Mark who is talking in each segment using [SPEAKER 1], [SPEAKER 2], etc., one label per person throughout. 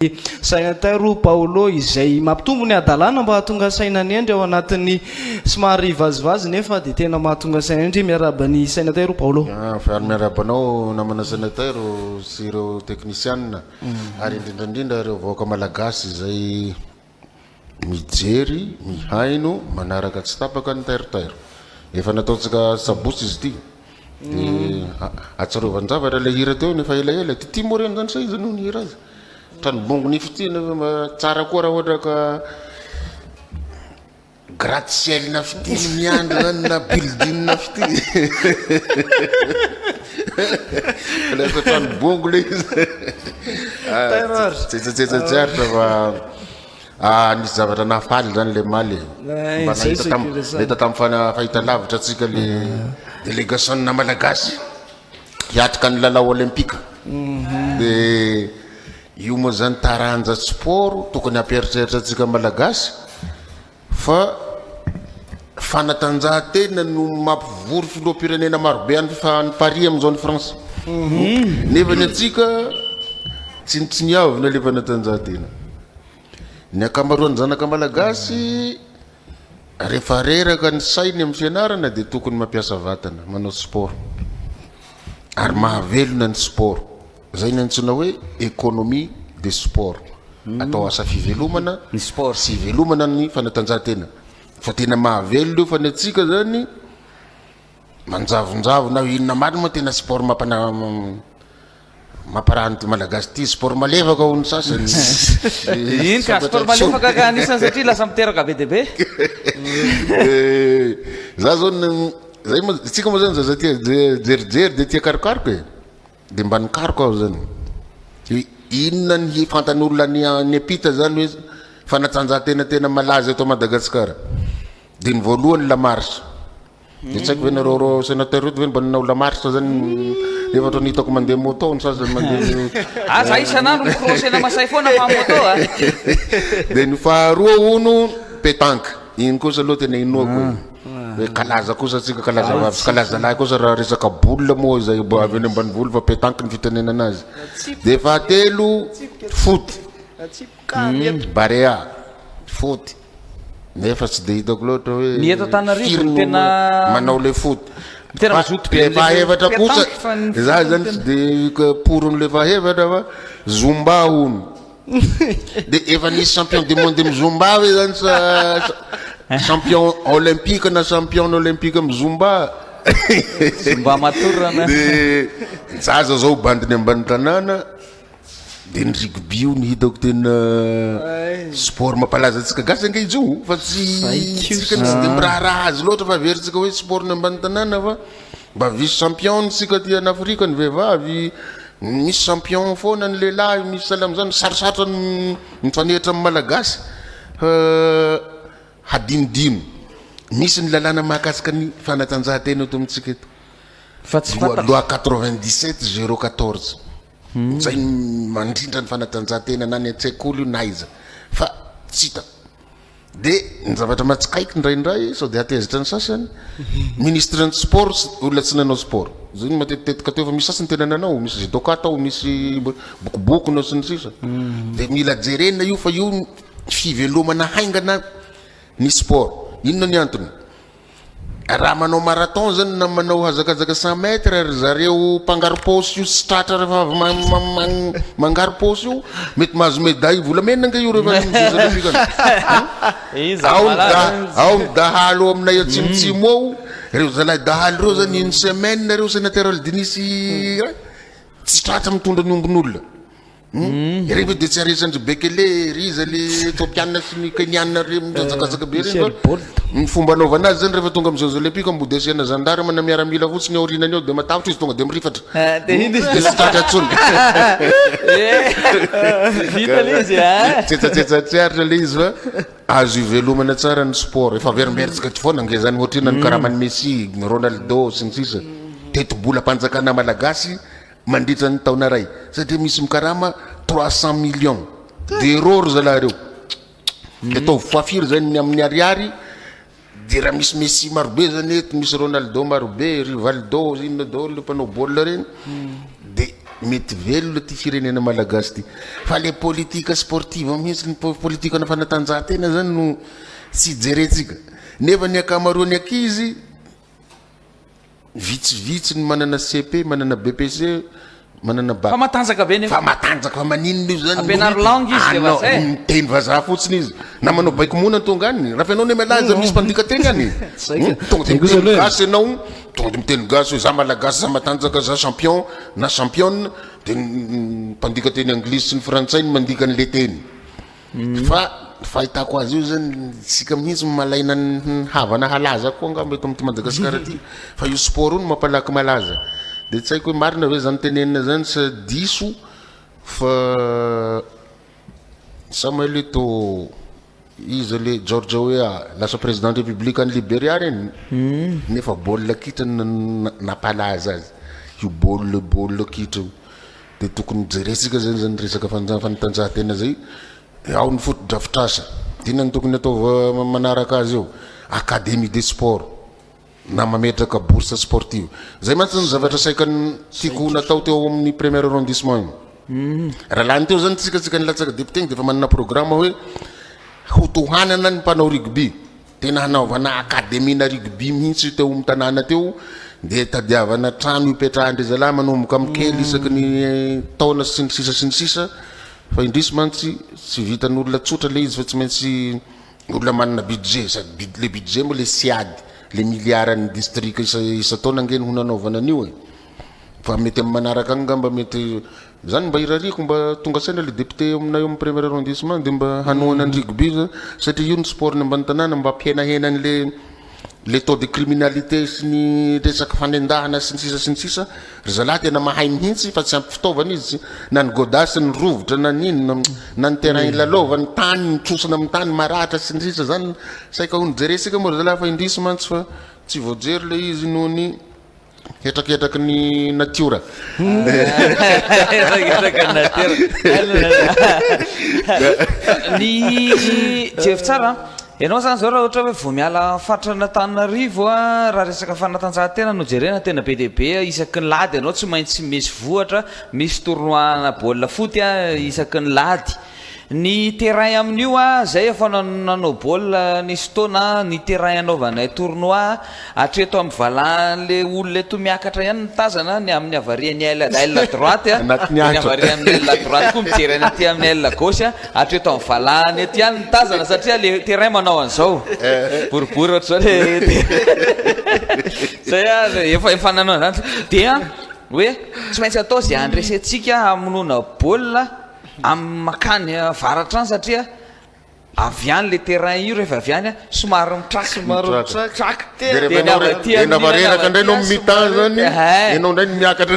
[SPEAKER 1] dia saina tairy hoy Paolo izay mampitombo ny hadalana mba hahatonga saina ny hendry ao anatin'ny somary vazivazy nefa dia tena mahatonga saina hendry miarahaba ny saina tairy hoy Paolo Avy ary miarahaba
[SPEAKER 2] anao namana saina tairo sy ireo teknisianina ary indrindra indrindra ireo vahoaka malagasy izay Mijery, mihaino, manaraka tsy tapaka ny tairtairo. Efa nataontsika sabotsy izy ity. Dia ahatsiarovan-javatra ilay hira teo ny efa elaela. Ity tia moa ireny izany sa iza no nihira azy? Ohatran'ny bongo nify ity, nefa mba tsara koa raha ohatra ka. Gratte ciel na fitil miandry zany na building na fitil lasa trano bongo le izy tsetsatsetsatsiaritra fa ah, nisy zavatra nahafaly zany le maly eh, mba nahita tam nahita tam fahita lavitra atsika le délégation na malagasy hiatrika ny lalao olympique mhm. de Io moa zany taranja sport tokony hampieritreritra antsika malagasy fa fanatanjahantena no mampivory filoham-pirenena marobe any Paris amin'izao any France nefa ny antsika tsinontsiniavina ilay fanatanjahantena. Ny ankamaroan'ny zanaka malagasy rehefa reraka ny sainy amin'ny fianarana dia tokony mampiasa vatana, manao sport ary mahavelona ny sport. Izay ny antsoina hoe economie de sport. Atao asa fivelomana Ny sport. sy hivelomana ny fanatanjahantena. Fa tena mahavelona io fa ny antsika izany manjavonjavo na inona marina moa tena sport mampana- mamparaha an'ity Malagasy ity. Sport malefaka hoy ny sasany.
[SPEAKER 3] Eny ka, sport malefaka ka anisany satria lasa miteraka be dia be. Eh,
[SPEAKER 2] Za zao ny, zay moa, isika moa zany zaza tia je- jerijery dia tia karokaroka e. Dia mba nikaroka aho izany hoe inona ny hifantan'olona any any ampita izany hoe fanatanjahantena tena malaza eto Madagasikara. Dia ny voalohany ny lamarche. Dia tsy haiko ve nareo reo sénateur reto ve mba nanao lamarche zany efa otrany hitako mandeha moto ny sasany mandeha Ah, za isan'andro
[SPEAKER 3] mi-crosser na Masay foana fa moto a.
[SPEAKER 2] Dia ny faharoa hono pétanque. Iny kosa aloha tena inoako e. Hoe kalaza kosa tsika kalaza vavy sy kalaza lahy kosa raha resaka boule moa izay mba avy any ambanivolo fa petanque ny fitenenana azy. Dia fahatelo foot, hmm, barea, foot. Nefa tsy dia hitako loatra hoe ny eto Antananarivo firy no
[SPEAKER 3] tena manao le foot.
[SPEAKER 2] Tena Fa mazoto be le
[SPEAKER 3] an'ilay fahefatra kosa
[SPEAKER 2] pétanque fa ny za foot zany no tsy dia poron'le fahefatra fa zumba hono. Dia efa nisy champion du monde amin'ny zumba ve zany sa champion olympique na championne olympique amin'ny zumba? Zumba matorana.
[SPEAKER 3] Dia
[SPEAKER 2] zaza zao bandiny ambany tanàna dia ny rugby io no hitako tena sport mampalaza antsika gasy ange izy io fa tsy tsy dia miraharaha azy loatra fa averintsika hoe sport ny ambany tanàna fa Mba vice champion tsika aty an Afrika ny vehivavy, misy champion foana ny lehilahy, misy sahala amin'izany, sarosarotra ny mifanehitra amin'ny Malagasy fa hadinodino, misy ny lalàna mahakasika ny fanatanjahantena eto amintsika eto, Fa tsy loi fantatro.
[SPEAKER 3] loi quatre vingt dix
[SPEAKER 2] sept zero quatorze, izay mandrindra ny fanatanjahantena na any an-tsekoly io na aiza fa tsy hitako. Dia ny zavatra mahatsikaiky indraindray sao dia hatezitra ny sasany, ministre ny sport sy olona tsy nanao sport. Izay no matetitetika teo fa misy sasany tena nanao, misy judoka tao, misy bokoboko nao sy ny sisa. Dia mila jerena io fa io ny fivelomana haingana ny sport. Inona ny antony? Raha manao marathon zany na manao hazakazaka cent mètres ry zareo mpangarom-paosy io tsy tratra rehefa avy mangarom-paosy io, mety mahazo médaille volamena ange io rehefa any Jeux olympiques any an! Ao ny da ao ny dahalo ao aminay atsimotsimo ao, reo zalahy dahalo reo zany une semaine reo sénateur Aldinisy tsy tratra mitondra ny ombin'olona. Ireny ve dia tsy aresan-dry Bekele, Riza, le Ethiopiana sy ny Keniana ireny mihazakazaka be ireny va? Ny fomba anaovana azy zany rehefa tonga amin'ny Jeux Olympiques moa dia asiana gendarme na miaramila fotsiny aorianany ao dia matahotra izy tonga dia mirifatra. Dia tsy tratra intsony. Vita ilay izy a! Tsetsatsetsa tsy aritra ilay izy fa azo ivelomana tsara ny sport. Efa averimberitsika eto foana ange izany ohatr'inona ny karaman'i Messi, Ronaldo sy ny sisa. Tetibolam-panjakana malagasy. mandritra ny taona iray satria misy mikarama trois cent millions d'euros ry zalahy reo de ataovy fois firy zany ny amin'ny ariary de raha misy Messi marobe zany eto misy Ronaldo marobe Rivaldo inona daholo le mpanao baolina reny de mety velona ty firenena malagasy ty fa le politique sportive mihitsy ny po- politique ana fanatanjahantena zany no tsy jerentsika nefa ny ankamaroan'ny ankizy Vitsivitsy ny manana CEP, manana BEPC, manana Bac. Fa matanjaka ve
[SPEAKER 3] nefa? Fa matanjaka, fa maninona io
[SPEAKER 2] zany? Ampianaro langue izy dia
[SPEAKER 3] vazaha e! Miteny vazaha fotsiny
[SPEAKER 2] izy. Na manao baiko mona tonga any. Rafa ianao nemalaa aza misy mpandika teny any e! Tonga dia miteny gasy ianao, tonga dia miteny gasy hoe za malagasy, za matanjaka, za champion na championne, dia ny mpandika teny anglisy sy ny frantsay no mandika an'ilay teny. Fa ny fahitako azy io zany isika mihitsy no malaina ny havana halaza koa angamba eto amin'ity Madagasikara ity fa io sport io no mampalaky malaza. Dia tsy haiko hoe marina ve izany tenenina izany sa diso fa sa maheno hoe to iza le George Weah lasa président république any Liberia reny nefa baolina kitra no na- na- nampalaza azy io baolina baolina kitra io. dia tokony hojerentsika izany izany resaka fanatanjahantena izay dia ao ny fotodrafitrasa. Inona no tokony ataova manaraka azy eo? Académie des sports na mametraka bourse sportive. Izay mantsy izany zavatra saika tiako ho natao teo amin'ny premier arrondissement iny. Raha lany teo izany isika isika nilatsaka député iny dia efa manana programme hoe hotohanana ny mpanao rugby. Tena hanaovana akademiana rugby mihitsy teo amin'ny tanàna teo dia tadiavana trano hipetrahan-dry zalahy manomboka amin'ny kely isaky ny taona sy ny sisa sy ny sisa fa indrisy mantsy tsy vitan'olona tsotra ilay izy fa tsy maintsy olona manana budget sady le budget moa le siady le miliara ny distrika isa isa-taona ange ny ho nanaovana an'io e fa mety amin'ny manaraka any ngamba mety Zany mba irariako mba tonga saina le député eo aminay eo amin'ny premier arrondissement de mba hanohana ny rugby io zany satria io ny sport ny ambany tanàna mba hampihenahena ny le le taux de criminalité sy ny resaka fanendahana sy ny sisa sy ny sisa ry zalahy tena mahay mihintsy fa tsy ampy fitaovana izy tsy na ny godas ny rovitra na ny inona na ny terrain ilalaovany tany ny trosona amin'ny tany maratra sy ny sisa zany saika ho nijerentsika moa ry zalahy fa indrisy mantsy fa tsy voajery le izy noho ny Hetraketraky ny natiora. Hetraketraky ny natiora.
[SPEAKER 3] Ny jery tsara an. Ianao zany zao raha ohatra hoe vao miala faritran'Antananarivo an, raha resaka fanatanjahantena no jerena tena be dia be isaky ny lahady ianao tsy maintsy misy vohitra, misy tournoi ana baolina foty an isaky ny lahady. Ny terrain amin'io a, zay efa nanao baolina nisy taona a, ny terrain anaovanay tournoi, hatreto amin'ny valahan'le olona eto miakatra ihany ny tazana, ny amin'ny havarian'ny aile aile droite a, ny havarian'ny aile droite koa mijery any aty amin'ny aile gauche a, hatreto amin'ny valahany eto ihany ny tazana satria le terrain manao an'zao, boribory ohatr'zao le terrain, zay a, efa efa nanao an'zany, dia hoe tsy maintsy atao ze handresentsika hamonoana baolina, Amin'ny makany avaratra any satria avy any le terrain io rehefa avy any somary mitraka mitraka traka dia avy aty dia
[SPEAKER 2] na vareraka indray no mitany zany ianao indray no miakatra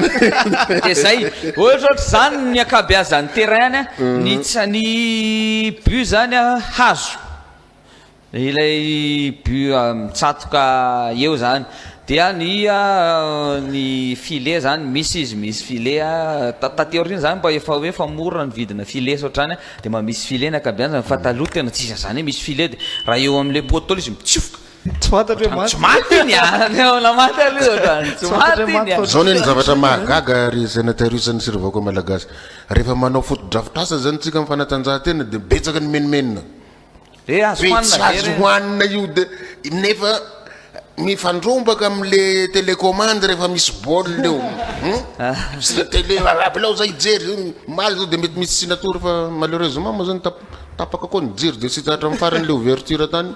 [SPEAKER 2] dia zay
[SPEAKER 3] ohatra ohatra zany ny ankabeazan'ny terrain any ny ny but zany hazo Ilay but mitsatoka eo zany dia ny ny filet zany misy izy misy filet a taty aoriana zany mba efa hoe efa mora ny vidina filet sy ohatrany a dia mba misy filet ny ankabeazany fa taloha tena tsisy an'izany hoe misy filet dia raha eo amin'ilay poteau ilay izy mitsofoka Tsy fantatro hoe maty.
[SPEAKER 1] Tsy maty iny a!
[SPEAKER 3] Olona maty aloha ohatrany. Tsy maty iny a! Zao ne ny zavatra
[SPEAKER 2] mahagaga ry Sénateur Usany sy ry vahoaka Malagasy. Rehefa manao fotodrafitrasa zany tsika am fanatanjahantena dia betsaka ny menomenona. Be
[SPEAKER 3] tsy azo hoanina
[SPEAKER 2] io de nefa mifandrombaka am le telecommande refa misy bol eo hum tele rabelareo za hijery zao omaly zao de mety misy tsy natory fa malheureusement moa zany tapaka koa ny jiro de tsy hita hatram farany le ouverture tany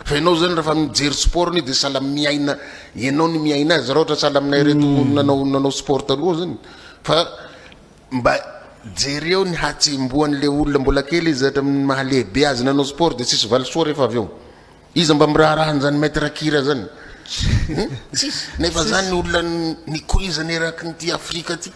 [SPEAKER 2] fa enao zany refa mijery sport io de sahala miaina enao no miaina azy ra ohatra sahala aminay reto nanao nanao sport taloha zany fa Mba jereo ny hatsembohan le olona mbola kely izy hatramin'ny maha lehibe azy nanao sport de tsisy valisoa rehefa avy eo. Iza mba miraharaha an'izany maître kira zany? Hum? Tsisy. Nefa zany ny olona nikoizana erakin'ity Afrika ty.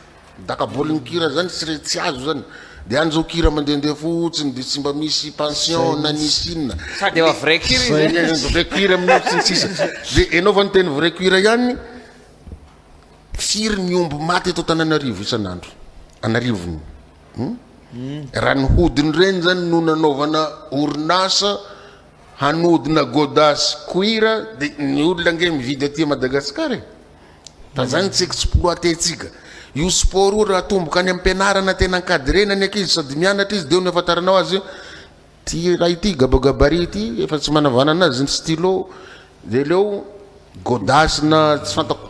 [SPEAKER 2] Dakabolin'ny kira zany tsy re tsy azo zany. De any zao kira mandehandeha fotsiny de tsy mba misy pension na nisy inona. Sady efa vrai kira
[SPEAKER 3] izy e. Vrai kira mihintsy
[SPEAKER 2] sy ny sisa. De enao fa niteny vrai kira ihany. Firy ny omby maty eto Antananarivo isan'andro? An'arivony eh? Raha ny hodin'ireny zany no nanaovana orinasa hanodina goda sy cuir de ny olona ange mividy aty Madagascar e. Fa zany tsy exploiter-tsika. Io sport io raha atomboka any am-pianarana tena ankadrena ny ankizy sady mianatra izy de eo no afantaranao azy Ty ialahy ty gabagabary ty efa tsy manavanana azy ny stylo de leo godasse na tsy fantako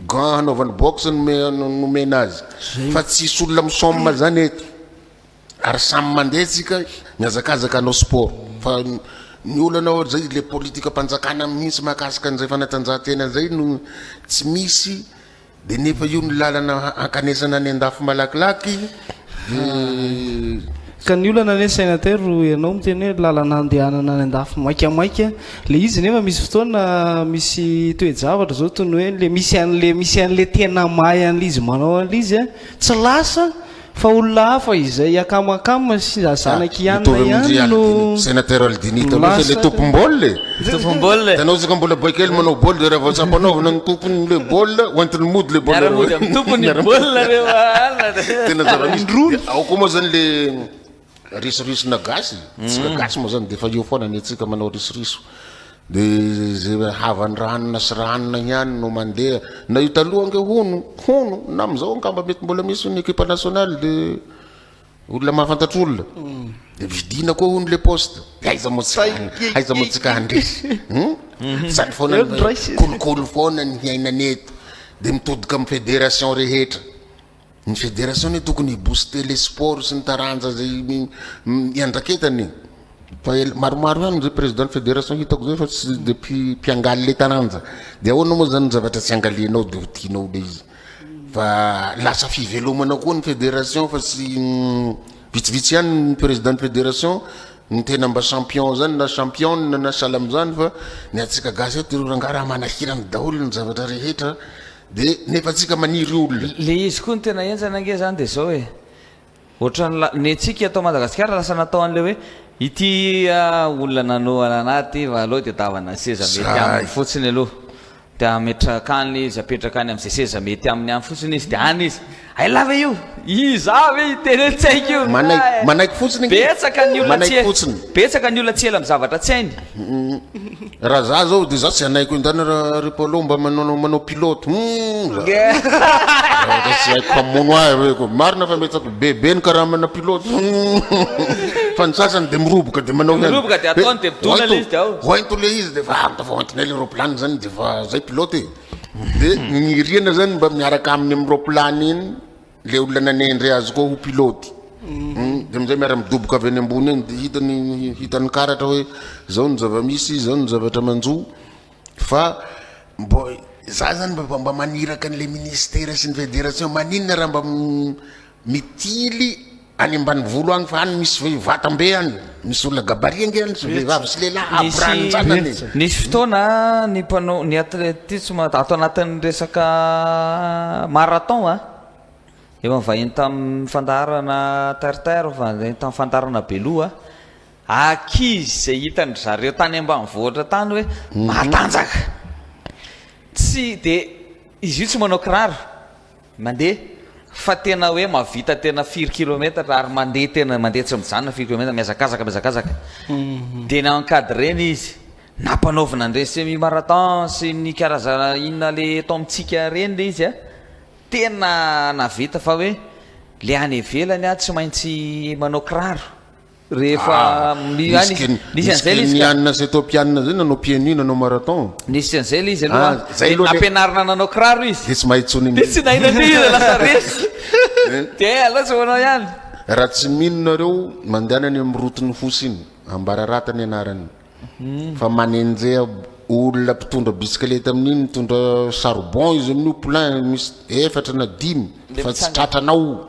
[SPEAKER 2] gants hanaovany boxe no nomena azy fa tsisy olona misomme zany eto ary samy mandeha tsika miazakazaka hanao sport fa ny olana ohatry zay le politika mpanjakana mihitsy mahakasika an'izay fanatanjahantena zay no tsy misy Dia nefa io no lalana hankanesana any andafy malakilaky eh.
[SPEAKER 1] Ka ny olana anie Senateur ianao miteny hoe lalana handehanana any andafy maikamaika le izy nefa misy fotoana misy toe-javatra zao toy ny hoe le misy an'le misy an'le tena mahay an'le izy manao an'le izy a tsy lasa Fa olona hafa izay akamakam sy zanaky i Anna ihany no Sénateur Aldini taloha
[SPEAKER 2] fa ilay tompom-baolina e! Tompom-baolina e! Hitanao isika mbola boay kely manao baolina dia raha vao tsy ampanaovina ny tompon'ilay baolina hoentiny mody ilay baolina Miara-mody amin'ny tompon'ny baolina ireo alina dia Tena zava-misy Dia ao koa moa izany ilay Risoriso na gasy, tsika gasy moa zany dia efa eo foana ny antsika manao risoriso, dia izay havan'ny ranona sy ranona ihany no mandeha, na io taloha ange hono, hono, na amin'izao angamba mety mbola misy hono ny ekipa nationale dia olona mahafantatra olona, dia vidiana koa hono le poste, dia aiza moa tsika, aiza moa tsika handresy hum? izany foana ny kolikoly foana ny hiainana eto, dia mitodika amin'ny federation rehetra. Ny federasiona io tokony hi booster le sport sy ny taranja zay iandraketany e. Fa ela maromaro ihany zay président ny fédération hitako zay fa tsy de mpiangaly le taranja. De ahoana moa zany ny zavatra tsy angalianao de ho tianao le izy. Fa lasa fivelomana koa ny fédération fa tsy vitsivitsy ihany ny président ny fédération no tena mba champion zany na championne na sahala amzany fa ny antsika gasy eto reo rangahy raha manahirana daholo ny zavatra rehetra Dia nefa tsika maniry olona. Le izy koa ny tena
[SPEAKER 3] enjana ange zany de zao e, otrany la ne tsika eto Madagasikara lasa natao anle hoe ity a olona nanohana anah ty va aleo de davana seza mety aminy fotsiny aloha de ametraka any le izy apetraka any amze seza mety aminy any fotsiny izy de any izy Hay lahy ve io? Iza ve io tena tsy haiko io Manaiky manaiky fotsiny nge
[SPEAKER 2] Betsaka ny olona tsy
[SPEAKER 3] hainy Betsaka ny
[SPEAKER 2] olona tsy ela
[SPEAKER 3] amin'ny zavatra tsy hainy
[SPEAKER 2] Raha za zao de za tsy hanaiko indany raha ry Paolo mba manao manao pilote humm Ohatra tsy haiko mpamono ahy hoe ko marina fa metsako be be ny karamana pilote humm Fa ny sasany de miroboka de manao ihany Miroboka de ataony de midona
[SPEAKER 3] le izy de ao Hoento le izy de fa
[SPEAKER 2] ah tafa hoentinay le roplany zany de fa zay pilote e. Dia ny rihana zany mba miaraka aminy amin'ny roaplan iny le olona nanendry azy koa ho pilote. Hmm, Dia amin'izay miara midoboka avy any ambony any dia hita ny hita ny karatra hoe izao ny zava-misy, izao ny zavatra manjo fa mbo za zany mba mba maniraka an'ilay ministera sy ny federation maninona raha mba Mitily any ambanivolo any fa any misy vatan be any misy olona gabarit ange any sy vehivavy sy lehilahy avy ranjanany e. Nisy fotoana
[SPEAKER 3] ny mpanao ny athletisme ato anatin'ny resaka marathon a, efa nivahiny tamin'ny fandaharana terre-terre, efa nivahiny tamin'ny fandaharana beloha, ankizy izay hitan-dry zareo tany ambanivohitra tany hoe matanjaka, tsy dia, izy io tsy manao kiraro, Mandeha fa tena hoe mahavita tena firy kilometatra ary mandeha tena mandeha tsy mijanona firy kilometatra mihazakazaka mihazakazaka. Mhm. Dia na-encadrer-na izy na mpanaovina an'ireny semi marathon sy ny karazana inona le eto amintsika ireny le izy a. Tena nahavita fa hoe le any ivelany a tsy maintsy manao kiraro. Rehefa mi- ah, nisy ken- nisy an'izay le izy ka. kenianina sy etopianina zay
[SPEAKER 2] nanao pienu nanao marathon Nisy an'izay le izy aloha.
[SPEAKER 3] Ah, zay Dia aloha le- nampianarina nanao kiraro izy. dia tsy mahay tsony Dia
[SPEAKER 2] tsy
[SPEAKER 3] nahay
[SPEAKER 2] nandeha izy
[SPEAKER 3] lasa resy. Dia alao tsy manao ihany. raha tsy mino
[SPEAKER 2] nareo mandehana any amin'ny roton'ny fosy iny ambararata ny anarany fa manenjeha olona mpitondra bisikileta amin'iny mitondra charbon izy amin'io plein misy efatra na dimy Dia fa tsy mitsanga- tratranao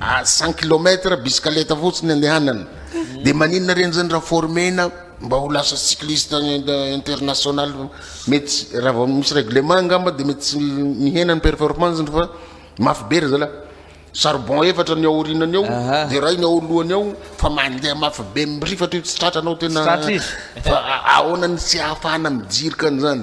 [SPEAKER 2] ary cent kilomètre bisikaleta fotsiny andehanana de maninona reny zany raha former-na mba ho lasa cycliste international mety raha vao misy règlement angamba de mety tsy mihena ny performance-ny fa mafy be ry zalahy charbon efatra ny ao aorianany ao Aha. de iray ny ao alohany ao fa mandeha mafy be mirifatra io tsy tratranao Tsy tena tratra izy. fa a- ahoana ny tsy ahafahana mijirika an'izany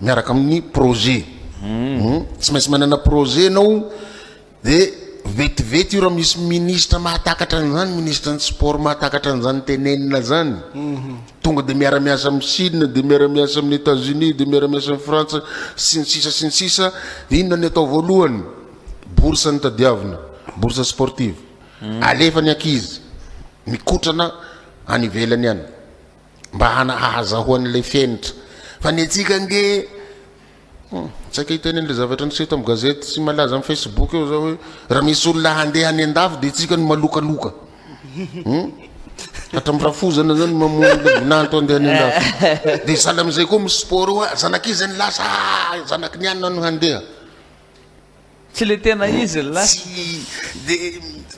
[SPEAKER 2] miaraka amin'ny projet hum tsy maintsy manana projet ianao dia vetivety io raha misy ministra mahatakatra an'izany ministra ny sport mahatakatra an'izany tenenina izany tonga dia miara-miasa amin'ny chine dia miara-miasa amin'ny etats unis dia miara-miasa amin'ny frantsa sy ny sisa sy ny sisa dia inona ny atao voalohany bourse ny tadiavina bourse sportive alefa ny ankizy mikotrana any ivelany any mba hahazahoany ilay fenitra fa ny antsika ange hmm, tsaika hiteny an'ilay zavatra niseho tamin'ny gazety sy malaza amin'ny facebook eo zao hoe raha misy olona handeha any an-dafy dia tsika no malokaloka hmm? hatramin'ny rafozana zany mamoninanto andeha any an-dafy dia sahala amin'izay koa misy sport oa zanak'izy ny lasa zanaky ny anina no handeha
[SPEAKER 3] Tsy le tena izy llah. Tsy le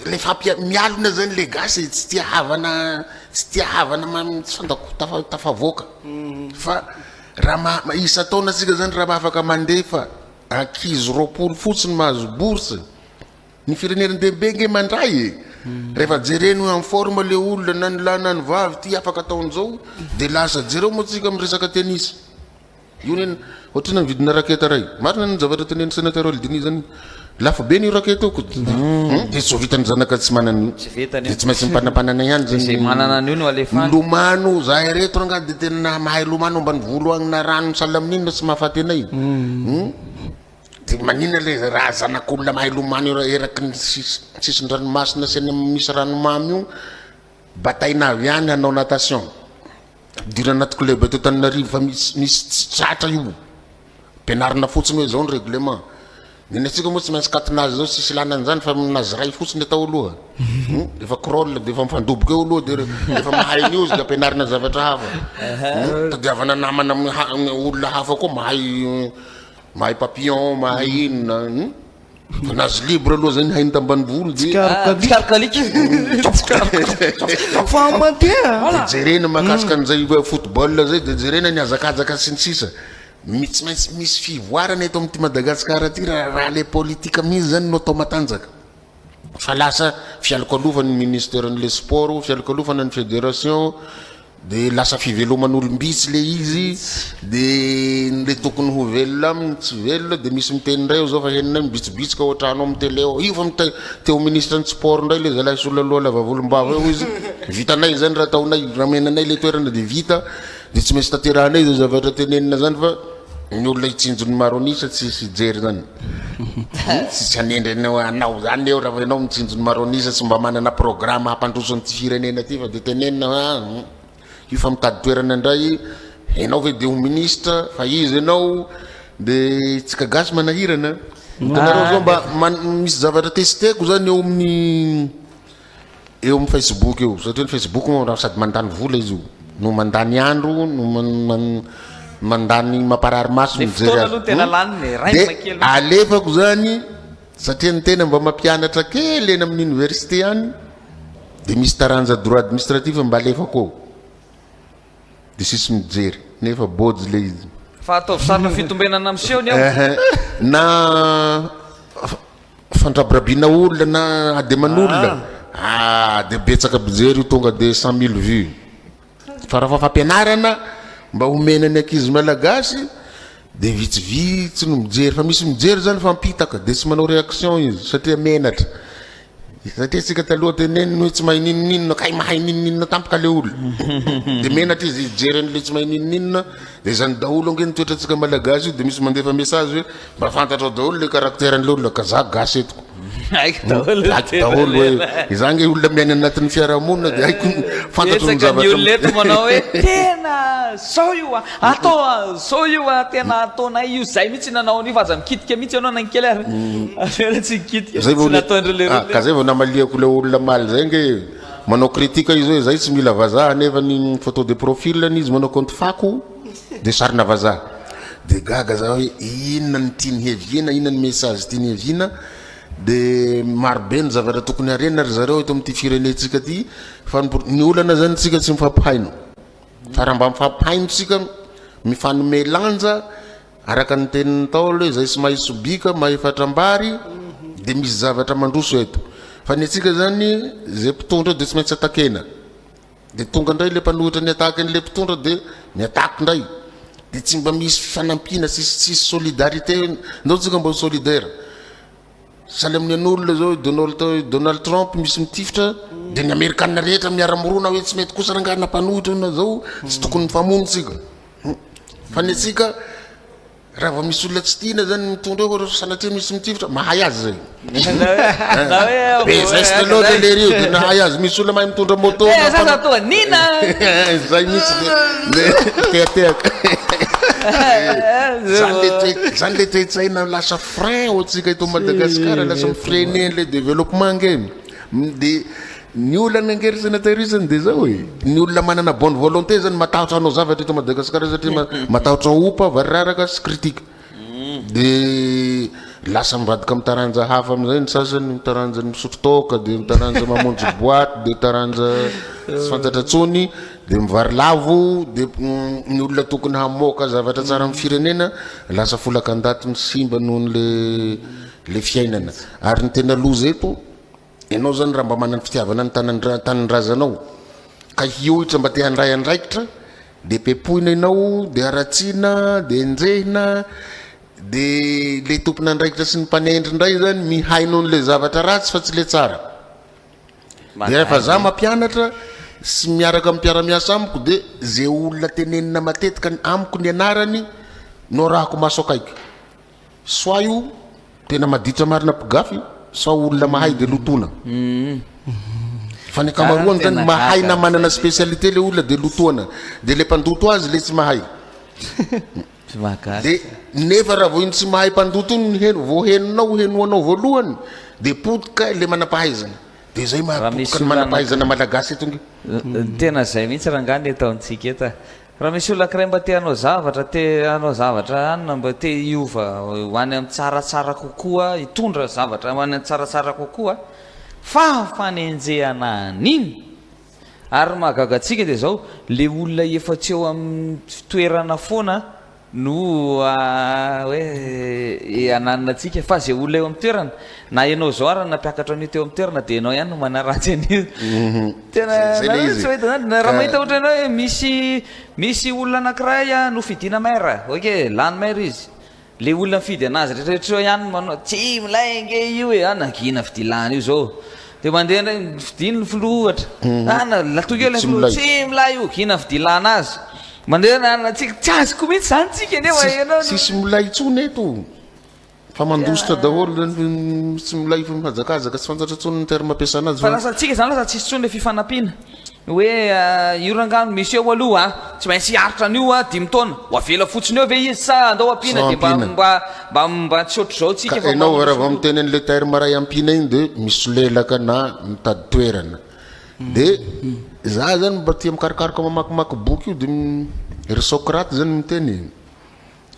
[SPEAKER 2] rehefa mialona zany le gasy e, tsy tia havana, tsy tia havana mamy tsy fanta-ko tafavoaka fa raha maha isan-taona tsika zany raha afaka mandefa ankizy roapolo fotsiny mahazo bourse ny firenena dehibe nge mandray e, rehefa jereny hoe en forme le olona na ny lahy na ny vavy ty afaka ataon'zao de lasa jereo moa tsika miresaka tennis. Io anie otrany mividina raketa ray. Marina ny zavatra tenenin'i Senatera Oldini zany. Lafo be ny raketa io ko. Hum, dia tsy ho vitan'ny zanaka tsy manana io. Tsy vitany io. Dia tsy maintsy mipanampanana ihany Dia izay manana an'io no halefany.
[SPEAKER 3] Milomano, zahay
[SPEAKER 2] reto rangah dia tena mahay lomano ambanivolo agny na rano misalela amin'inona tsy mahafaty anay. Hum. Dia maninona le raha zanak'olona mahay lomano io eraky ny sis- sisin-dranomasina sy any amin'ny misy ranomamy io bataina avy any hanao natation. Fidirana anaty club eto Antananarivo fa misy misy tsy tratra io. Ampianarina fotsiny hoe izao ny règlement. Ny antsika moa tsy maintsy katina azy izao tsisy ilana an'izany fa minazy iray fotsiny atao aloha. Hmm? Efa crawl dia efa mifandoboka eo aloha dia efa mahay ny ozy dia ampianarina zavatra hafa. Hmm? Tadiavana namana amin'ny ha- amin'ny olona hafa koa mahay mahay papillon, mahay inona. Hmm? Nazy libre aloha zay ny hainy tambanivolo de Tsikaroka alika. Tsikaroka. Fa mandeha. Dia jerena mahakasika an'izay football izay dia jerena ny hazakazaka sy ny sisa. Mi- Tsy maintsy misy fivoarana eto amin'ity Madagasikara ity raha raha ilay politika mihitsy izany no atao matanjaka. Fa lasa fialokalofan'ny ministeran'ilay sport, fialokalofanan'ny federation, De lasa fiveloman'olom-bitsy le izy de ny le tokony ho velona aminy tsy velona de misy miteny indray aho zao fa henonay mibitsibitsika ao an-trano ao amin'ny tele ao, io fa mitay teo ministra ny sport indray le zalahy sola loha lava volom-bava eo izy, vitanay izany raha ataonay, raha omena anay le toerana de vita de tsy maintsy tanterahanay zay zavatra tenenina zany fa. Ny olona hitsinjon'i Maronisa tsy hisy hijery zany Tsisy hanendry anao anao zany eo raha vao ianao mitsinjon'i Maronisa tsy mba manana programme hampandroso an'ity firenena ty fa dia tenenina hoe ah io fa mitady toerana indray ianao ve dia ho ministre fa iza ianao dia isika gasy manahirana hitanareo zao mba man- misy zavatra testeko zany eo amin'ny eo amin'ny Facebook eo satria ny Facebook moa raha sady mandany vola izy io no mandany andro no mandany mamparary maso ny mijery azy dia alefako zany satria ny tena mba mampianatra kely eny amin'ny université any dia misy taranja droit administratif mba alefako ao de sisy mijery nefa bôjy le izy. Fa ataovy sarina
[SPEAKER 3] fitombenana miseho ny ao. Na
[SPEAKER 2] fandrabirabiana olona na ademan'olona ah. ah de betsaka mpijery io tonga de cent mille vues fa raha fa fampianarana mba homena ny ankizy malagasy de vitsivitsy no mijery fa misy mijery zany fa mpitaka de tsy manao réaction izy satria menatra Satria tsika taloha dia neny ny hoe tsy mahay ninoninona kay mahay ninoninona tampoka le olona dia menatra izy hijery an'le tsy mahay ninoninona dia izany daholo ange ny toetrantsika malagasy io dia misy mandefa message hoe mba fantatrao daholo le caractère an'le olona ka za gasy etiko
[SPEAKER 3] haiko daholo ny haiko daholo hoe tena
[SPEAKER 2] izaho ange olona miaina anatin'ny fiarahamonina dia haiko fantatro ny betsaka ny zavatra olona eto manao
[SPEAKER 3] hoe tena zao io a Atao a zao io a tena ataonay io zay mihitsy nanao an'io fa aza mikitika mihitsy ianao na ny kely ary avela tsy mikitika zay vao mihitsy nataondry le ah,
[SPEAKER 2] ka
[SPEAKER 3] zay vao namaliako
[SPEAKER 2] le olona maly zay nge manao critique izy hoe zay tsy mila vazaha nefa ny photo de profil ny izy manao compte fako de sarina vazaha de gaga za hoe inona ny tiany heviana inona ny message tiany heviana de marobe ny zavatra tokony harena ry zareo eto amin'ity firenentsika ty fa ny pro- ny olana zany tsika tsy mifampihaino Fa raha mba mifampihainotsika, mifanome lanja, araka ny tenin'ny Ntaolo hoe izay tsy mahay sobika, mahay fatrambary, dia misy zavatra mandroso eto. Fa ny antsika izany, izay mpitondra eo dia tsy maintsy atakena. Dia tonga indray ilay mpanohitra niataka an'ilay mpitondra dia miataka indray. Dia tsy mba misy fifanampiana, tsisy tsisy solidarité. Ndao tsika mba ho solidaire. Sahala amin'ny an'olona zao i Donald i Donald Trump misy mitifitra dia ny Amerikana rehetra miara-mirona hoe tsy mety kosa rangahy na mpanohitra na zao tsy tokony mifamono tsika. Hmm. Fa ny antsika raha vao misy olona tsy tiana zany mitondra hoe ohatra sanatria misy mitifitra mahay azy zay. Na hoe be veste loatra lery io dia nahay azy misy olona mahay mitondra moto. Eh, sasa toa nina.
[SPEAKER 3] Zay
[SPEAKER 2] mihitsy le tehatehaka. Zany le toe zany le toe-tsaina lasa Frein ho antsika eto Madagascar lasa mi freine an'ilay développement ange de ny olana ange ry sénateur isany de zao e ny olona manana bonne volonté zany matahotra hanao zavatra eto Madagascar satria matahotra opa variraraka sy critique de lasa mivadika amin'ny taranja hafa amin'izay ny sasany ny taranja ny misotro toaka de ny taranja mamonjy boite de taranja tsy fantatra intsony Dia mivarilavo dia ny olona tokony hamoaka zavatra tsara amin'ny firenena lasa folaka an-daty misimba noho ny le le fiainana. Ary ny tena loza eto ianao zany raha mba manana fitiavana ny tanan-dra- tanindrazanao ka hiohitra mba te handray andraikitra dia pepoina ianao dia haratsiana dia enjehina dia le tompon'andraikitra sy ny mpanendry indray zany mihaino an'le zavatra ratsy fa tsy le tsara. Rehefa za mampianatra sy miaraka amin'ny mpiara-miasa amiko de ze olona tenenina matetika amiko ny anarany no arahako maso akaiky. Soit io tena maditra marina mpigafy sao olona mahay de lotoina. Fa ny ankamaroany zany mahay na manana spécialité le olona de lotoina. De le mpandoto azy le tsy mahay. Tsy mahagaga ka. Nefa raha vao iny tsy mahay mpandoto iny no heno, vao henonao, henoanao voalohany dia potika ilay manampahaizana. Dia izay mahapotika ny manampahaizana malagasy eto ange. Tena izay
[SPEAKER 3] mihitsy rangahy ny ataontsika eto a. Raha misy olona ankiray mba te hanao zavatra, te hanao zavatra hanina, mba te hiova ho any amin'ny tsaratsara kokoa, hitondra zavatra ho any amin'ny tsaratsara kokoa, fa fanenjehana an'iny! Ary ny mahagaga antsika dia izao, ilay olona efa tsy eo amin'ny toerana foana no hoe hananina antsika, fa izay olona eo amin'ny toerana, na ianao izao ary nampiakatra an'io teo amin'ny toerana dia ianao ihany no manaratsy an'io. Tena, nareo tsy mahita izany? Raha mahita ohatra ianao hoe misy, misy olona anankiray nofidiana maire, ok, lany maire izy, Le olona mifidy anazy retraretra eo iany manao tsy milay ange io e, ah nangina fidilana io zao de mandeha ndray fidiny ny filoha ohatra ah na latoky eo le filoha tsy milay io gina ny fidilana azy mandeha ny anona tsika tsy azoko mihitsy zany tsika nefa ianao tsisy milay intsony
[SPEAKER 2] eto fa mandositra daholo tsy milay fa mihazakazaka tsy fantatro intsony ny terme ampiasana azy fa lasa tsika zany lasa tsisy
[SPEAKER 3] intsony le fifanampiana Hoe io rangah no misy eo aloha a! Tsy maintsy hiaritra an'io a! Dimy taona! Ho avela fotsiny eo ve izy sa andao ampiana dia mba mba mba mba tsy ohatr'izao tsika fa Ka enao hoe raha vao miteny an'i
[SPEAKER 2] Lethaire Maray ampiana iny dia misolelaka na mitady toerana. Dia za zany mba tia mikarokaroka mamakimaky boky io dia ry Socrate zany miteny e!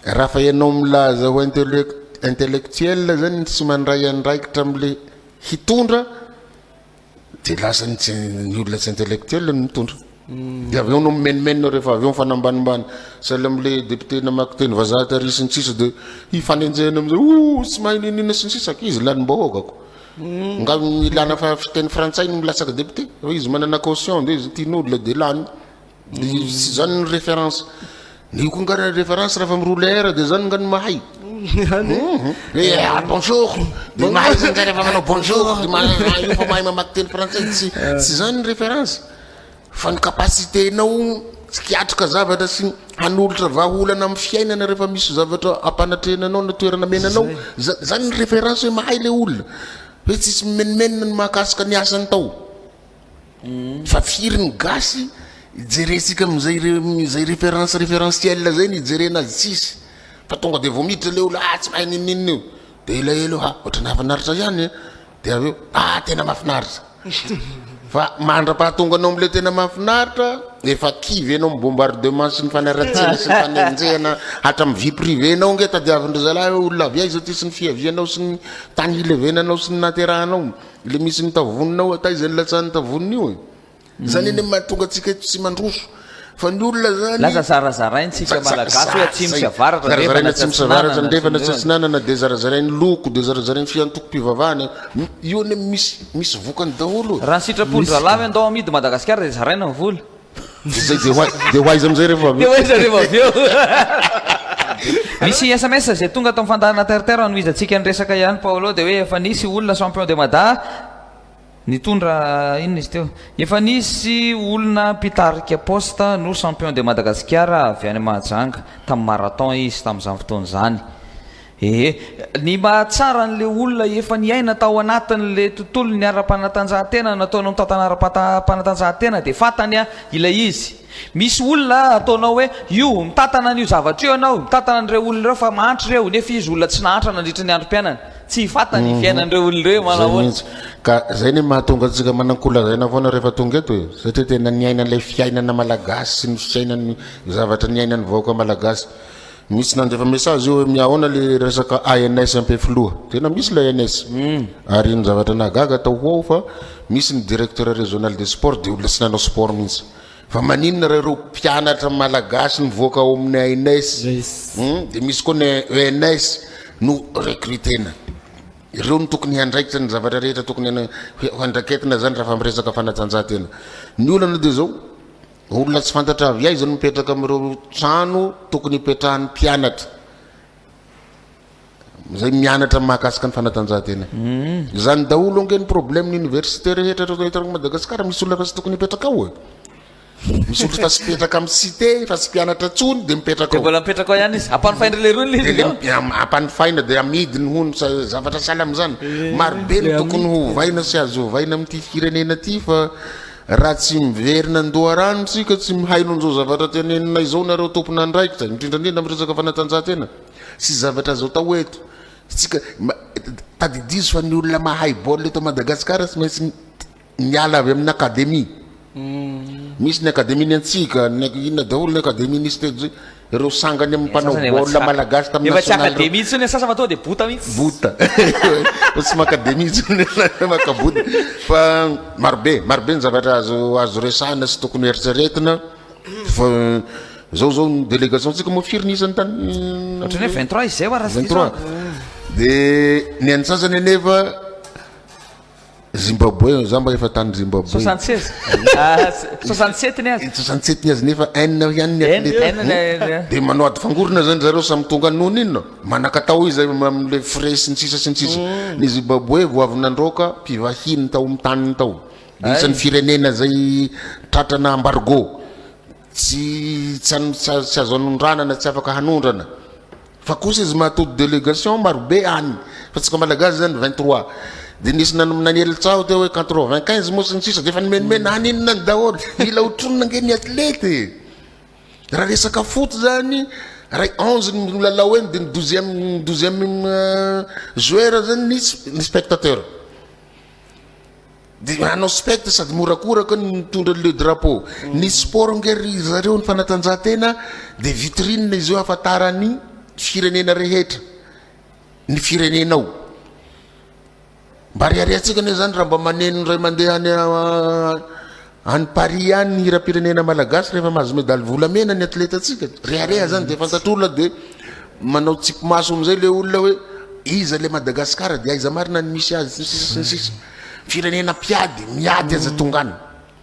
[SPEAKER 2] Raha fa enao milaza ho intellectuel zany tsy mandray andraikitra am'le hitondra, de lasa ny tsy ny olona tsy intellectuel no mitondra de avy eo no mimenomenona rehefa avy eo mifanambanimbany sahala am'le député namaky teny vazaha tary sy ny sisa de hifanenjehana am'zay oh tsy mahay ninina sy ny sisa ka izy lanim-bahoaka ko nga ny ilana fa fiteny frantsay no milatsaka député fa izy manana caution de izy tian'olona de lany Tsy izany ny référence. Io koa nga référence raha fa miroule air dia izany nga ny mahay. Bonjour, dia mahay izany nga rehefa manao bonjour, dia mahay io fa mahay mamaky teny frantsay, tsy tsy izany ny référence. Fa ny capacité-nao tsy hiatrika zavatra sy hanolotra vahaolana amin'ny fiainana rehefa misy zavatra ampanatrehina anao na toerana mena anao, za- izany ny référence hoe mahay ilay olona. Hoe tsisy mimenomenona ny mahakasika ny asany tao. Fa firy ny gasy jerentsika amin'izay izay référence référentiel zay no ijerena azy tsisy fa tonga dia vao miditra ilay olona ah tsy mahay n'inon'inona io dia elaela eo ha ohatran'ny hahafinaritra ihany an dia avy eo ah tena mahafinaritra fa mandra-pahatonga anao amin'ilay tena mahafinaritra efa kivy ianao amin'ny bombardement sy ny fanaratsiana sy ny fanenjehana hatramin'ny vie privée nao ange tadiavin-dry zalahy hoe olona avy aiza ity sy ny fiavianao sy ny tany hilevenanao sy ny naterahanao Ilay misy ny tavonina ao taiza ilay latsahan'ny tavonina io e? Izany anie mahatonga antsika eto tsy mandroso fa ny olona zany Lasa zarazaraintsika
[SPEAKER 3] malagasy hoe atsimo sy avaratra andrefana sy atsinanana andrefana
[SPEAKER 2] sy atsinanana dia zarazarain'ny loko dia zarazarain'ny fiantokom-pivavahana io anie misy misy vokany daholo e. Raha ny sitrapon-dRalahy
[SPEAKER 3] hoe andao amidy Madagasikara dia zaraina ny vola. Izay dia ho
[SPEAKER 2] ai- dia ho aiza amin'izay rehefa avy Dia eo? ho aiza rehefa avy eo?
[SPEAKER 3] Misy sms izay tonga tao amin'ny fandaharana Terre Terre hanohizantsika ny resaka ihany Paolo dia hoe efa nisy olona champion de Mada nitondra inona izy teo? Efa nisy olona mpitarika poste no champion de Madagasikara avy any Mahajanga tamin'ny marathon izy tamin'izany fotoana izany. Ee, ny mahatsara an'ilay olona efa niaina tao anatin'ilay tontolon'ny ara-panatanjahantena nataonao mitantana ara-panatanjahantena dia fantany ilay izy. Misy olona ataonao hoe io, mitantana an'io zavatra io ianao, mitantana an'ireo olona ireo fa mahantra ireo, nefa izy olona tsy nahantra nandritra ny androm-piainany. Tsy fantany ny fiainan'ireo olona ireo hoe manao ahoana. Izay mihitsy. Ka izay no
[SPEAKER 2] mahatonga antsika manan-kolazaina foana rehefa tonga eto e, satria tena niaina ilay fiainana malagasy sy ny fiainan'ny zavatra niainan'ny vahoaka malagasy. Misy nandefa message eo hoe mihaona le resaka ANS ampe filoha. Tena misy le ANS. Hmm. Ary ny zavatra nahagaga tao ho ao fa misy ny directeur régional des sports dia olona tsy nanao sport mihitsy. Fa maninona raha ireo mpianatra malagasy nivoaka ao amin'ny ANS hmm, dia misy koa ny ENS no recrutena. Ireo no tokony handraikitra ny zavatra rehetra tokony handraketina izany raha fa miresaka fanatanjahantena. Ny olana dia izao Olona tsy fantatra avy aiza no mipetraka amin'ireo trano tokony hipetrahan'ny mpianatra izay mianatra mahakasika ny fanatanjahantena. Hmm. Izany daholo ange ny problème ny université rehetra ireo eto Madagasikara misy olona fa tsy tokony hipetraka ao e. Misy olona fa tsy mipetraka amin'ny cité fa tsy mpianatra tsony dia mipetraka ao. Mbola mipetraka ao ihany izy.
[SPEAKER 3] Ampanofaina ilay roa ilay izy. Ampanofaina
[SPEAKER 2] dia amidiny hono zavatra sahala amin'izany. Eh, Marobe ny tokony hovaina sy azo hovaina amin'ity firenena ity fa Raha tsy miverina an-doharano isika, tsy mihaino an'izao zavatra teneninay izao nareo tompon'andraikitra, indrindra indrindra amin'ny resaka fanatanjahantena, sy zavatra azo atao eto, isika tadidizo fa ny olona mahay baolina eto Madagasikara tsy maintsy miala avy amin'ny akademia, misy ny akademian'ny antsika, ny inona daholo ny akademian'ny stade, Ireo sangany amin'ny mpanao baolina malagasy tamin'ny nationale. Efa tsy akademia intsony ny sasany fa tonga
[SPEAKER 3] dia bota mihitsy. Bota.
[SPEAKER 2] Fa tsy makademia intsony ilay maka bota. Fa marobe, marobe ny zavatra azo azo resahina sy tokony eritreretina fa zao zao ny délégation tsika moa firy ny isany tany Ohatrany hoe vingt
[SPEAKER 3] trois izay wa raha tsy diso aho.
[SPEAKER 2] Dia ny antsasany anefa Zimbabwe, za mba efa tany Zimbabwe. Soixante seize.
[SPEAKER 3] Soixante sept ny azy. Soixante sept ny azy nefa haine
[SPEAKER 2] avy any ny athlete. Dia manao ady fangorona zany zareo samy tonga noho n'inona? Manakatao izy amin'ilay frais sy ny sisa sy ny sisa. Ny Zimbabwe vao avy nandroaka mpivahiny tao amin'ny taniny tao. Dia isan'ny firenena zay tratrana embargo. Tsy tsy tsy azo anondranana, tsy afaka hanondrana. Fa kosa izy mahatody délégation marobe any fa tsika malagasy zany vingt trois de nisy nanely tsaho teo hoe quatre vingt quinze moa sy ny sisa de efa nomenomena any inona any daholo mila hotronina ange ny athlète e raha resaka foot zany ray onze ny milalao eny de ny douzième douzième joueur zany ny ny spectateur Dia manao spect sady morakoraka ny mitondra le drapeau. Ny sport ange ry zareo ny fanatanjahantena dia vitrine izy io ahafantaran'ny firenena rehetra ny firenenao. Mba reharehantsika anie izany raha mba maneno indray mandeha any Any Paris any ny hiram-pirenena malagasy rehefa mahazo medaly volamena ny atletantsika. Rehareha zany dia fantatr'olona dia manao tsipimaso amin'izay ilay olona hoe iza ilay Madagasikara dia aiza marina ny misy azy sy ny sisa sy ny sisa. Firenena mpiady, miady aza tonga any.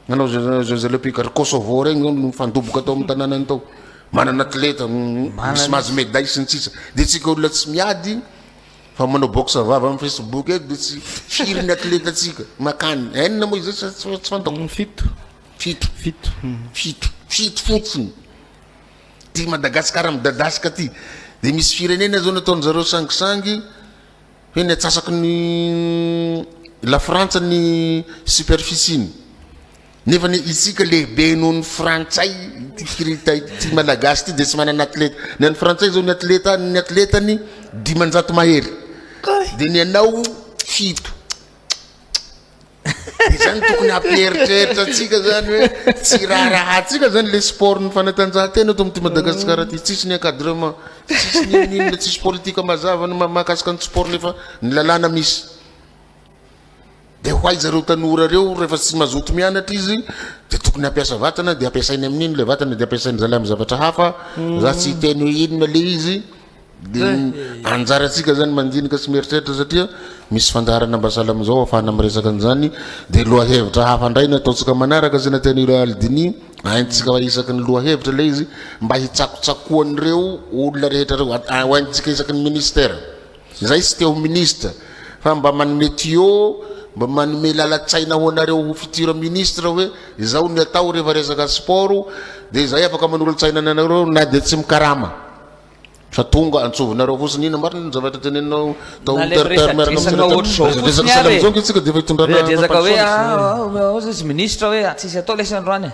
[SPEAKER 2] Nanao Jeux olympiques ary Kosovo regny zao nifandoboka tao amin'ny tanànany tao. Manana atleta misy mahazo medaille sy ny sisa. Dia tsika olona tsy miady Fa manao boxe vava am facebook eto de tsy firy ny athleta tsika makany enina moa izay sa tsy fantako. Fito. Fito. Fito. Fito. Fito fotsiny. Ty Madagascar midadasika ty. De misy firenena zao nataony zareo sangisangy hoe ny atsasaky ny la frantsa ny superficie-ny. Nefa ny isika lehibe noho ny frantsay ity kirita ity malagasy ity dia tsy manana atleta ny an'ny frantsay zao ny atleta ny atletany dimanjato mahery dia ny anao fito zany tokony hampieritreritra atsika zany hoe tsy raharahantsika zany le sport ny fanatanjahantena eto amity madagasikara ty tsisy ny encadrement tsisy ny inona tsisy politika mazava ny mahakasika ny sport nefa ny lalàna misy Dia ho aiza ireo tanora ireo rehefa tsy mazoto mianatra izy dia tokony hampiasa vatana dia ampiasainy amin'ny inona ilay vatana dia ampiasainy zalahy amin'ny zavatra hafa za tsy hiteny hoe inona ilay izy dia anjarantsika zany mandinika sy mieritreritra satria misy fandaharana mba sahala amin'izao afahana miresaka an'izany dia lohahevitra hafa indray ny ataontsika manaraka izay nataon'ireo Aldini haintsika isaky ny lohahevitra ilay izy mba hitsakotsakoan'ireo olona rehetra ireo haintsika isaky ny ministera Zay tsy te ho ministre fa mba manome tuyaux mba manome lalatsaina ho anareo ho futur ministre hoe izao ny atao rehefa resaka sport dia zay afaka manolotsaina ny anareo na dia tsy mikarama fa tonga antsovinareo fotsiny ina marina ny zavatra teneninao tao na le miresadresaka ohatr'izao fotsiny ary e resadresaka hoe ao
[SPEAKER 3] zay tsy ministre hoe tsisy atao lesy androany e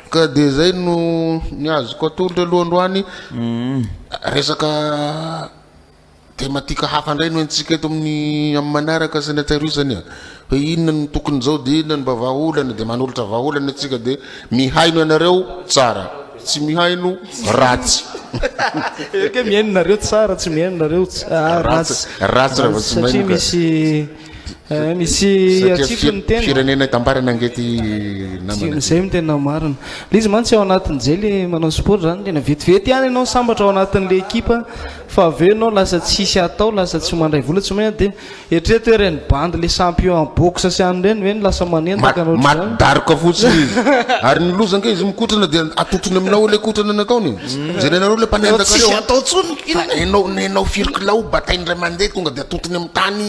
[SPEAKER 2] Ka dia izay no ny azoko atolotra aloha androany. Resaka tematika hafa indray no entintsika eto amin'ny amin'ny manaraka sy ny hatsiaro isany a. Hoe inona no tokon'izao dia inona no mba vahaolana dia manolotra vahaolana isika dia mihaino ianareo tsara, tsy mihaino ratsy.
[SPEAKER 1] Ekeo mihaino nareo tsara, tsy mihaino nareo ratsy. Ratsy raha vao tsy mihaino
[SPEAKER 2] ka. Satria misy.
[SPEAKER 1] Misy atsipy ny tena. Firenena itambarana ange
[SPEAKER 2] ty namana.
[SPEAKER 1] Zay no tena marina. Le izy mantsy ao anatin'izay le manao sport zany tena vetivety ihany ianao sambatra ao anatin'le ekipa fa avy eo ianao lasa tsy hisy atao lasa tsy mandray vola tsy maina de eritrereto hoe reny bandy le champion en boxe sy an'ireny ve no lasa manentaka anao ohatr'izany. Maty daroka
[SPEAKER 2] fotsiny izy. Ary ny loza ange izy mikotrana de atotrony aminao ao le kotrana nataony e. Jerenareo le mpanentaka reo a. Fa enao nenao firy kilao batainy ray mandeha tonga de. Tontony amin'ny tany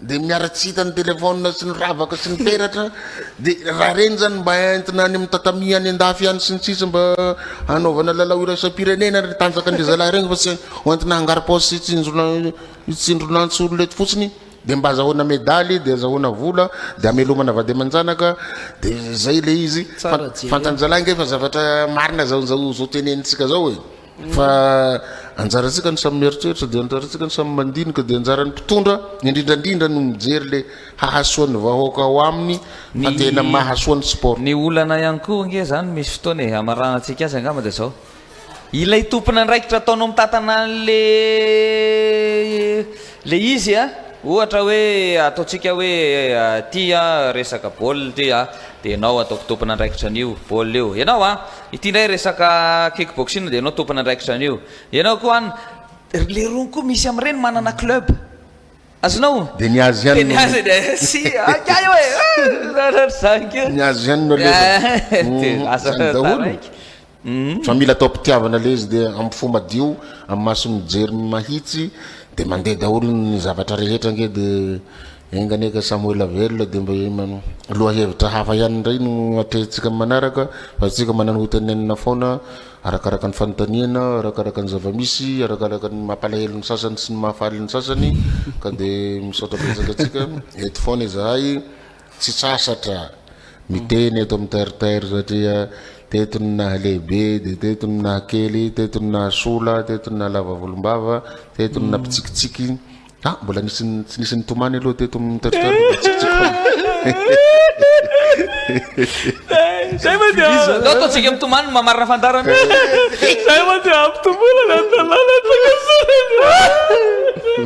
[SPEAKER 2] dia miara tsy hita ny telefaonina sy ny ravaka sy ny peratra dia raha ireny izany mba entina any amin'ny tatami any andafy any sy ny sisa mba hanaovana lalao iraisam-pirenena ny tanjakan'ireny zalahy ireny fa tsy ho entina hangarom-paosy sy hitsinjona hitsindronantsy olona eto fotsiny dia mba azahoana medaly dia azahoana vola dia hamelomana vady aman-janaka dia izay ilay izy Tsara jerena. fantan-jalahy ange fa zavatra marina izao izao izao tenenitsika izao e Fa anjarantsika ny samy mieritreritra, dia anjarantsika ny samy mandinika, dia anjaran'ny mpitondra indrindra indrindra no mijery ilay hahasoa ny vahoaka ao aminy fa tena mahasoa ny sport. Ny olana ihany koa
[SPEAKER 3] ange izany misy fotoana e, hamaranantsika azy angamba dia izao, ilay tompon'andraikitra ataonao mitantana an'ilay Le izy a, ohatra hoe ataontsika hoe ty a resaka baolina ty a, de ianao ataoko tompon'andraikitra an'io baolina io, ianao a, ity ndray resaka kick boxing de ianao tompon'andraikitra an'io, ianao koa an, le rony koa misy amin'ireny manana club, azonao? Dia ny azy ihany no.
[SPEAKER 2] Dia ny azy dia si
[SPEAKER 3] akia io e, ah! Ohatr'izany koa. Ny azy ihany no
[SPEAKER 2] alevina. Dia lasa taraiky.
[SPEAKER 3] Fa mila
[SPEAKER 2] atao pitiavana le izy dia am fo madio am maso mijery mahitsy de mandeha daholo ny zavatra rehetra ange de enga anie ka samy ho ela velona de mba lohahevitra hafa ihany indray no atrehintsika am manaraka fa isika manana ho tenenina foana arakaraka ny fanontaniana arakaraka ny zavamisy arakaraka ny mampalahelo ny sasany sy ny mahafaly ny sasany ka de misaotra betsaka atsika eto foana izahay Tsy sasatra miteny eto amin'ny terre-terre satria teto no nahalehibe dia teto no nahakely, teto no nahasola, teto no nahalava volombava, teto no nampitsikitsiky. Ah, mbola nisy ny- tsy nisy nitomany aloha teto amin'ny terre-terre dia mitsikitsiky foana.
[SPEAKER 3] Zay moa dia Aleo ataontsika mitomany no mamarina fandarana. Zay moa dia hampitomboina ny an-tanàna an-tsakasaraka.